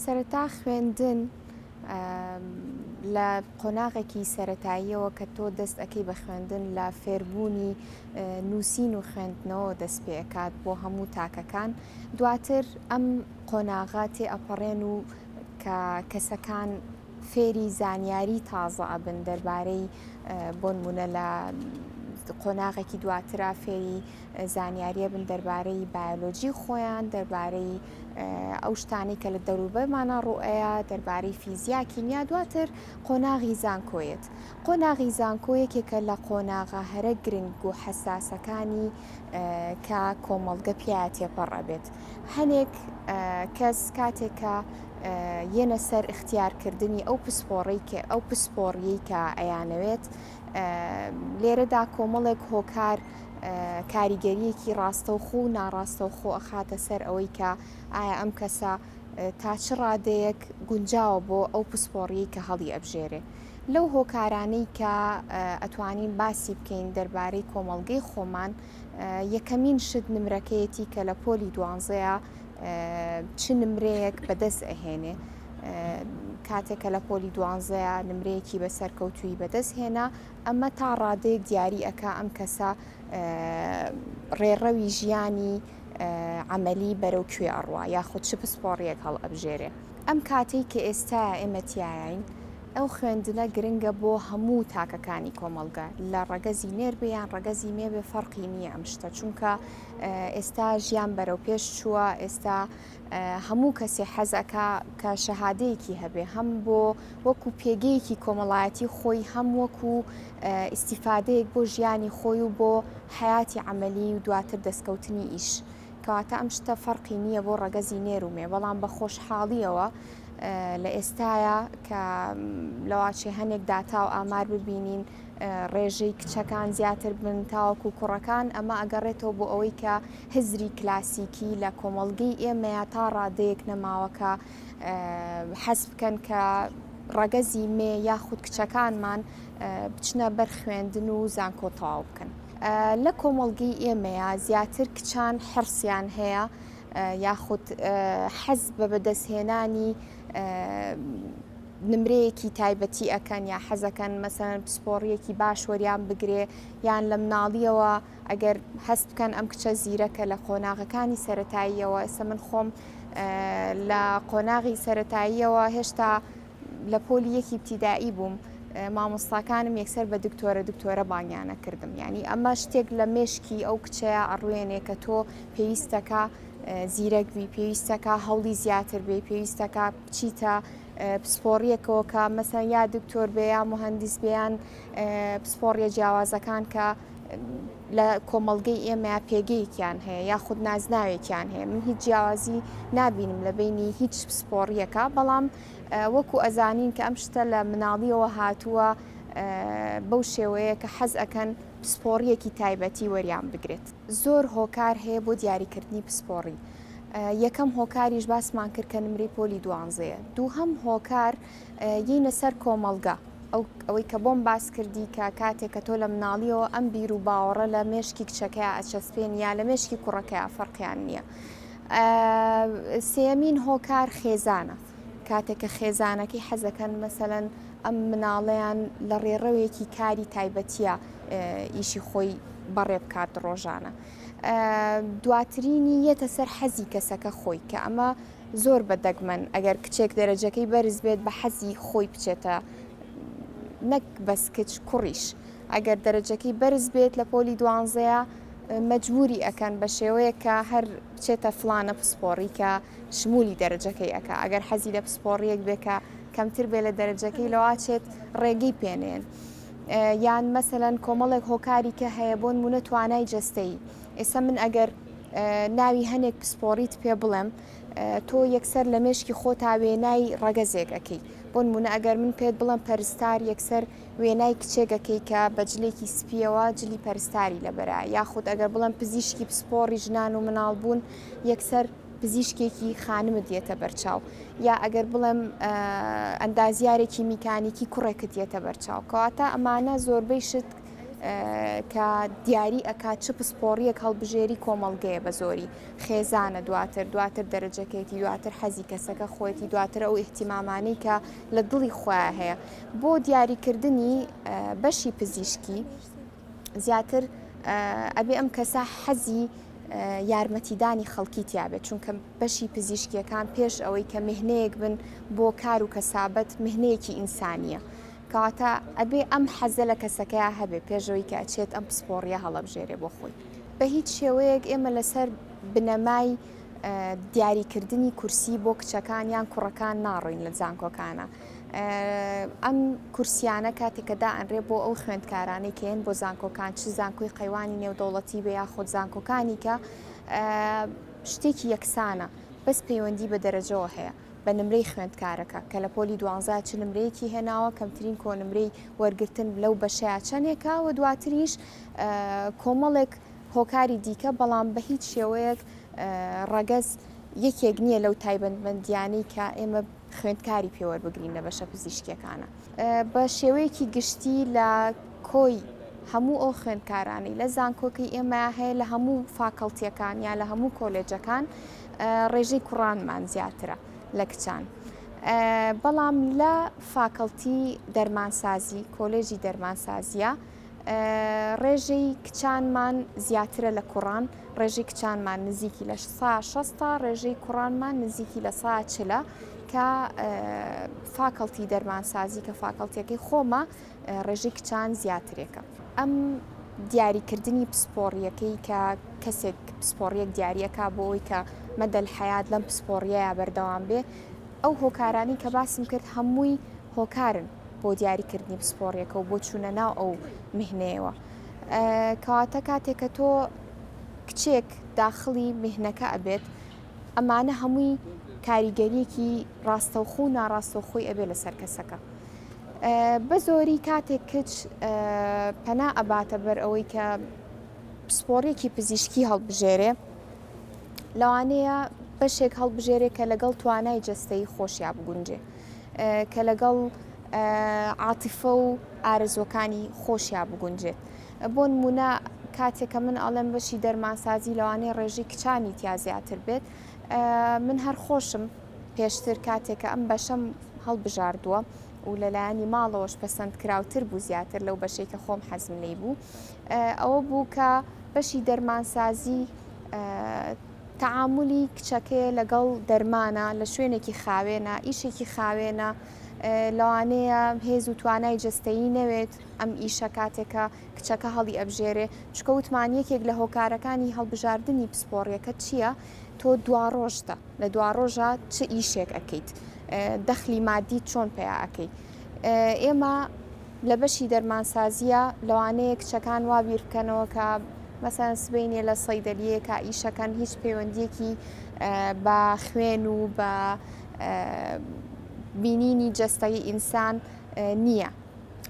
سەرەتا خوێندن لە قۆناغێکی سەتاییەوە کە تۆ دەست ئەەکەی بە خوێندن لە فێربوونی نووسین و خوێندنەوە دەست پێکات بۆ هەموو تاکەکان دواتر ئەم قۆناغا تێ ئەپەڕێن و کە کەسەکان فێری زانیاری تازە ئەبن دەربارەی بۆنمونە لە قۆناغێکی دواترا فێری زانیارییە بن دەربارەی بایۆلۆجی خۆیان، دەربارەی ئەو شتانەی کە لە دەوروبەرمانە ڕوئەیە، دەربارەی فیزیا، کیمیا، دواتر قۆناغی زانکۆیەت. قۆناغی زانکۆ یەکێکە لە قۆناغە هەرە گرنگ و حەساسەکانی کە کۆمەڵگە پیاە تێپەڕ ئەبێت. هەنێک کەس کاتێک کە یەنە سەر اختیارکردنی ئەو پسپۆڕی ئەو پسپۆڕیەی کە ئەیانەوێت، لێرەدا کۆمەڵێک هۆکار کاریگەریەکی ڕاستەوخۆ و ناڕاستەوخۆ ئەخاتە سەر ئەوەی کە ئایا ئەم کەسە تا چ ڕادەیەک گونجاوە بۆ ئەو پسپۆڕی کە هەڵی ئەبژێرێ لەو هۆکارانەی کە ئەتوانین باسی بکەین دەربارەی کۆمەڵگەی خۆمان یەکەمین شت نمرەکەیەتی کە لە پۆلی دوانزەیە چ نمرەیەک بەدەست ئەهێنێ کاتێکە لە پۆلی دوانزەیە نمرەیەکی بە سەرکەوتوی بەدەست هێنا ئەمە تا ڕادەیەک دیاری ئەک ئەم کەسە ڕێڕەوی ژیانی عملی بەرەو کوێ ئەڕوا یاخود چ پسپۆڕیەک هەڵ ئەبژێرێ ئەم کاتێک کە ئێستا ئێمەتیایین ئەو خوێندنە گرنگە بۆ هەموو تاکەکانی کۆمەڵگە لە ڕەگەزی نێر بێ یان ڕەگەزی مێ بێ فەرقی نییە ئەم شتە چونکە ئێستا ژیان بەرەو پێش چووە ئێستا هەموو کەسێ حەزەکە کە شەهادەیەکی هەبێ هەم بۆ وەکو پێگەیەکی کۆمەڵایەتی خۆی هەم وەکو ئیسیفادەیەک بۆ ژیانی خۆی و بۆ حیاتی عملی و دواتر دەستکەوتنی ئیش. کەواتە ئەم شتە فەرقی نییە بۆ ڕەگەزی نێرومێ بەڵام بە خۆشحاڵیەوە لە ئێستاە کە لەواچێ هەنێک داتا و ئامار ببینین ڕێژەی کچەکان زیاتر بن تاوەکو و کوڕەکان ئەمە ئەگەڕێتەوە بۆ ئەوەی کە هزری کلاسیکی لە کۆمەڵگەی ئێمەیە تا ڕادەیەک نەماوەکە حەز بکەن کە ڕەگەزی مێ یاخود کچەکانمان بچنە بەر خوێندن و زانکۆ تەواو بکەن. لە کۆمەڵگەی ئێمەیە زیاتر کچان حرسیان هەیە یاخود حەز بە بەدەستهێنانی نمرەیەکی تایبەتی ئەکەن یا حەزەکەن مەسەن پسپۆڕیەکی باش وەریان بگرێ یان لە مناڵیەوە ئەگەر هەست بکەن ئەم کچە زیرەکە لە قۆناغەکانی سەتاییەوە ئێستا من خۆم لە قۆناغی سەتاییەوە هێشتا لە پۆلی یەکی ابتیدایی بووم مامۆستاکانم یەکسەر بە دکتۆرە دکتۆرە بانگیانە کردم یعنی ئەمە شتێک لە مێشکی ئەو کچەیە ئەڕوێنێ کە تۆ پێویستەکە زیرەک بی پێویستەکە هەوڵی زیاتر بێ پێویستەکە بچیتە پسپۆڕیەکەوە کە مەسەن یا دکتۆر بێ یا مهندس بیان پسپۆڕیە جیاوازەکان کە لە کۆمەلگەی ئێمە پێگەیەکیان هەیە یا خود نازناوێکیان هەیە من هیچ جیاوازی نبینم لە بینی هیچ پسپۆڕیەکە بەڵام وەکو ئەزانین کە ئەم شتە لە مناڵیەوە هاتووە بەو شێوەیە کە حەز ئەکەن پسپۆڕیەکی تایبەتی وەریان بگرێت زۆر هۆکار هەیە بۆ دیاریکردنی پسپۆڕی یەکەم هۆکاریش باسمان کرد کە نمری پۆلی دوانزەیە دووهەم هۆکار یینە سەر کۆمەلگا ئەو ئەوەی کە بۆم باس کردی کە کاتێک کە تۆ لە مناڵیەوە ئەم بیر و باوەڕە لە مێشکی کچەکەی ئەچەسپێن یا لە مێشکی کوڕەکەی فەرقیان نییە. سێیەمین هۆکار خێزانە کاتێک کە خێزانەکەی حەزەکەن مەسەەن ئەم مناڵەیان لە ڕێڕەوێکی کاری تایبەتیە ئیشی خۆی بەڕێ بکات ڕۆژانە. دواترینی یەتە سەر حەزی کەسەکە خۆی کە ئەمە زۆر بە دەگمەن ئەگەر کچێک دەرەجەکەی بەرز بێت بە حەزی خۆی بچێتە نەک بەس کچ کوڕیش ئەگەر دەرەجەکەی بەرز بێت لە پۆلی دوانزەیە مەجبوری ئەکەن بە شێوەیەک کە هەر بچێتە فلانە پسپۆڕی کە شمولی دەرەجەکەی ئەکا ئەگەر حەزی لە پسپۆڕیەک بێ کە کەمتر بێ لە دەرەجەکەی لەواچێت ڕێگەی پێنێن. یان مەسەەن کۆمەڵێک هۆکاری کە هەیە بۆن مونە توانای جەستەی ئێستا من ئەگەر ناوی هەنێک پسپۆڕیت پێ بڵێم تۆ یەکسەر لە مێشکی خۆتا وێنای ڕەگەزێک ئەەکەی بۆن مونە ئەگەر من پێت بڵم پەرستار یەکسەر وێنای کچێگەکەی کە بە جلێکی سپیەوە جلی پەرستاری لەبەرە یاخود ئەگەر بڵم پزیشکی پسپۆڕی ژنان و مناڵ بوون یەکسەر پزیشکێکی خانمت یەتە بەرچاو یا ئەگەر بڵێم ئەندازیارێکی میکانیکی کوڕێکت یەتە بەرچاو کەواتە ئەمانە زۆربەی شت کە دیاری ئەکات چ پسپۆڕیەک هەڵبژێری کۆمەڵگەیە بە زۆری خێزانە دواتر دواتر دەرەجەکەیتی دواتر حەزی کەسەکە خۆیەتی دواتر ئەو احتیمامانی کە لە دڵی خۆیان هەیە بۆ دیاریکردنی بەشی پزیشکی زیاتر ئەبێ ئەم کەسە حەزی یارمەتیدانی خەڵکی تیاابێت چونکە بەشی پزیشکیەکان پێش ئەوەی کە مهنەیەک بن بۆ کار و کەسابەت مهنەیەکی ئینسانیە کەواتە ئەبێ ئەم حەزە لە کەسەکەی هەبێ پێشەوەی کە ئەچێت ئەم پسپۆڕیە هەڵەبژێرێ بۆ خۆی بە هیچ شێوەیەک ئێمە لەسەر بنەمای دیاری کردنی کورسی بۆ کچەکان یان کوڕەکان ناڕۆین لە زانکۆکانە ئەم کورسیانە کاتێکەدا ئەنرێ بۆ ئەو خوێندکارانەی کەێن بۆ زانکۆکان چ زانکۆی قەیوانی نێودەوڵەتی بە یاخود زانکۆکانی کە شتێکی یەکسانە بەس پەیوەندی بە دەرەجەوە هەیە بە نمرەی خوێندکارەکە کە لە پۆلی دوانزا چ نمرەیەکی هێناوە کەمترین کۆنمرەی وەرگتن لەو بەشەیە چەندێکە و دواتریش کۆمەڵێک هۆکاری دیکە، بەڵام بە هیچ شێوەیەک ڕەگەز یەکێک نییە لەو تایبەتمەندیانەی کە ئێمە خوێندکاری پێوەربگرین لە بەشە پزیشکیەکانە بە شێوەیەکی گشتی لە کۆی هەموو ئەو خوێندکارانی لە زانکۆکەی ئێمە هەیە لە هەموو فاکەڵتیەکان یا لە هەموو کۆلێجەکان ڕێژەی کوڕانمان زیاترە لە کچان. بەڵام لە فاکەڵتی دەرمانسازی کۆلێژی دەرمانسازیە ڕێژەی کچانمان زیاترە لە کوڕان ڕێژی کچانمان نزیکی لە سا شستا ڕێژەی کوڕانمان نزیکی لە سا چلە کە فاکەڵتی دەرمانسازی کە فاکەڵتیەکەی خۆمە ڕێژی کچان زیاترێکە ئەم دیاریکردنی پسپۆڕیەکەی کە کەسێک پسپۆڕیەک دیارەکە بۆ ئەوی کە مەدەل حیات لەم پسپۆڕیە بەردەوام بێ ئەو هۆکارانی کە باسم کرد هەمووی هۆکارن بۆ دیاری کردنی پسپۆڕیەکە و بۆ چوونە ناو ئەو میهنەیەوە کەواتە کاتێک کە تۆ کچێک داخڵی میهنەکە ئەبێت ئەمانە هەمووی کاریگەریەکی ڕاستەوخۆ و ناڕاستەوخۆی ئەبێ لەسەر کەسەکە بە زۆری کاتێک کچ پەنا ئەباتە بەر ئەوەی کە پسپۆڕێکی پزیشکی هەڵبژێرێ لەوانەیە بەشێک هەڵبژێرێ کە لەگەڵ توانای جستەی خۆشیا بگونجێ کە لەگەڵ عاتیفە و ئارەزوەکانی خۆشیا بگونجێت بۆ نمونە کاتێکە من ئەڵێم بەشی دەرمانسازی لەوانەیە ڕێژی کچانی تیا زیاتر بێت من هەر خۆشم پێشتر کاتێکە ئەم بەشەم هەڵبژاردووە و لەلایەنی ماڵەوەش پەسەند کراوتر بوو زیاتر لەو بەشەی کە خۆم حەزم لی بوو ئەوە بوو کە بەشی دەرمانسازی تەعامولی کچەکەی لەگەڵ دەرمانە لە شوێنێکی خاوێنە، ئیشێکی خاوێنە، لەوانەیە هێز و توانای جەستەیی نەوێت ئەم ئیشە کاتێک کە کچەکە هەڵی ئەبژێرێ چکە وتمان یەکێک لە هۆکارەکانی هەڵبژاردنی پسپۆڕیەکە چییە تۆ دواڕۆژتە لە دواڕۆژە چ ئیشێک ئەکەیت دەخلی مادی چۆن پیا ئەەکەی ئێمە لە بەشی دەرمانسازییە لەوانەیە کچەکان وا بیر بکەنەوە کە مەسەن سبینێ لە سەیدەلیەکە ئیشەکەن هیچ پەیوەندیەکی بە خوێن و بە بینینی جەستەی ئینسان نییە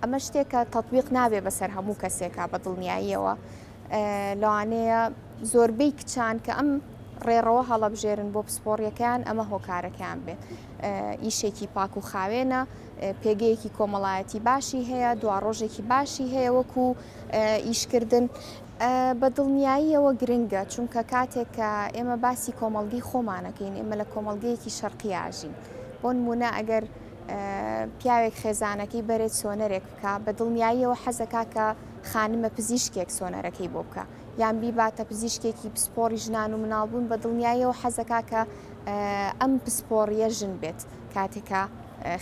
ئەمە شتێکە تەطببیق نابێ بەسەر هەموو کەسێکا بە دڵنیاییەوە لەوانەیە زۆربەی کچان کە ئەم ڕێڕەوە هەڵەبژێرن بۆ پسپۆڕیەکەیان ئەمە هۆکارەکەیان بێت ئیشێکی پاک و خاوێنە پێگەیەکی کۆمەڵایەتی باشی هەیە دواڕۆژێکی باشی هەیە وەکو ئیشکردن بە دڵنیاییەوە گرنگە چونکە کاتێک کە ئێمە باسی کۆمەلگی خۆمانەکەین ئێمە لە کۆمەلگەیەکی شەرقیاژین بۆن مونە ئەگەر پیاوێک خێزانەکەی بەرێت سۆنەرێک بکە بە دڵنیاییەوە حەزەکە کە خانمە پزیشکێک سۆنەرەکەی بۆ بکە یان بیباتە پزیشکێکی پسپۆری ژنان و مناڵبوون بە دڵنیاییەوە حەزەکە کە ئەم پسپۆڕیە ژن بێت کاتێک کە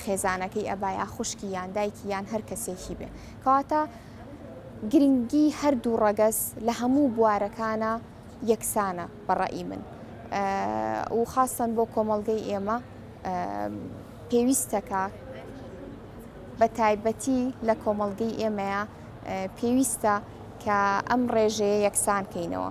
خێزانەکەی ئەبا یا خوشکی یان دایکی یان هەر کەسێکی بێ کەواتە گرنگی هەردوو ڕەگەز لە هەموو بوارەکانە یەکسانە بەڕئی من و خاستن بۆ کۆمەڵگەی ئێمە پێویستەکە بە تایبەتی لە کۆمەڵگەی ئێمەیە پێویستە کە ئەم ڕێژەیە یەکسان کەینەوە.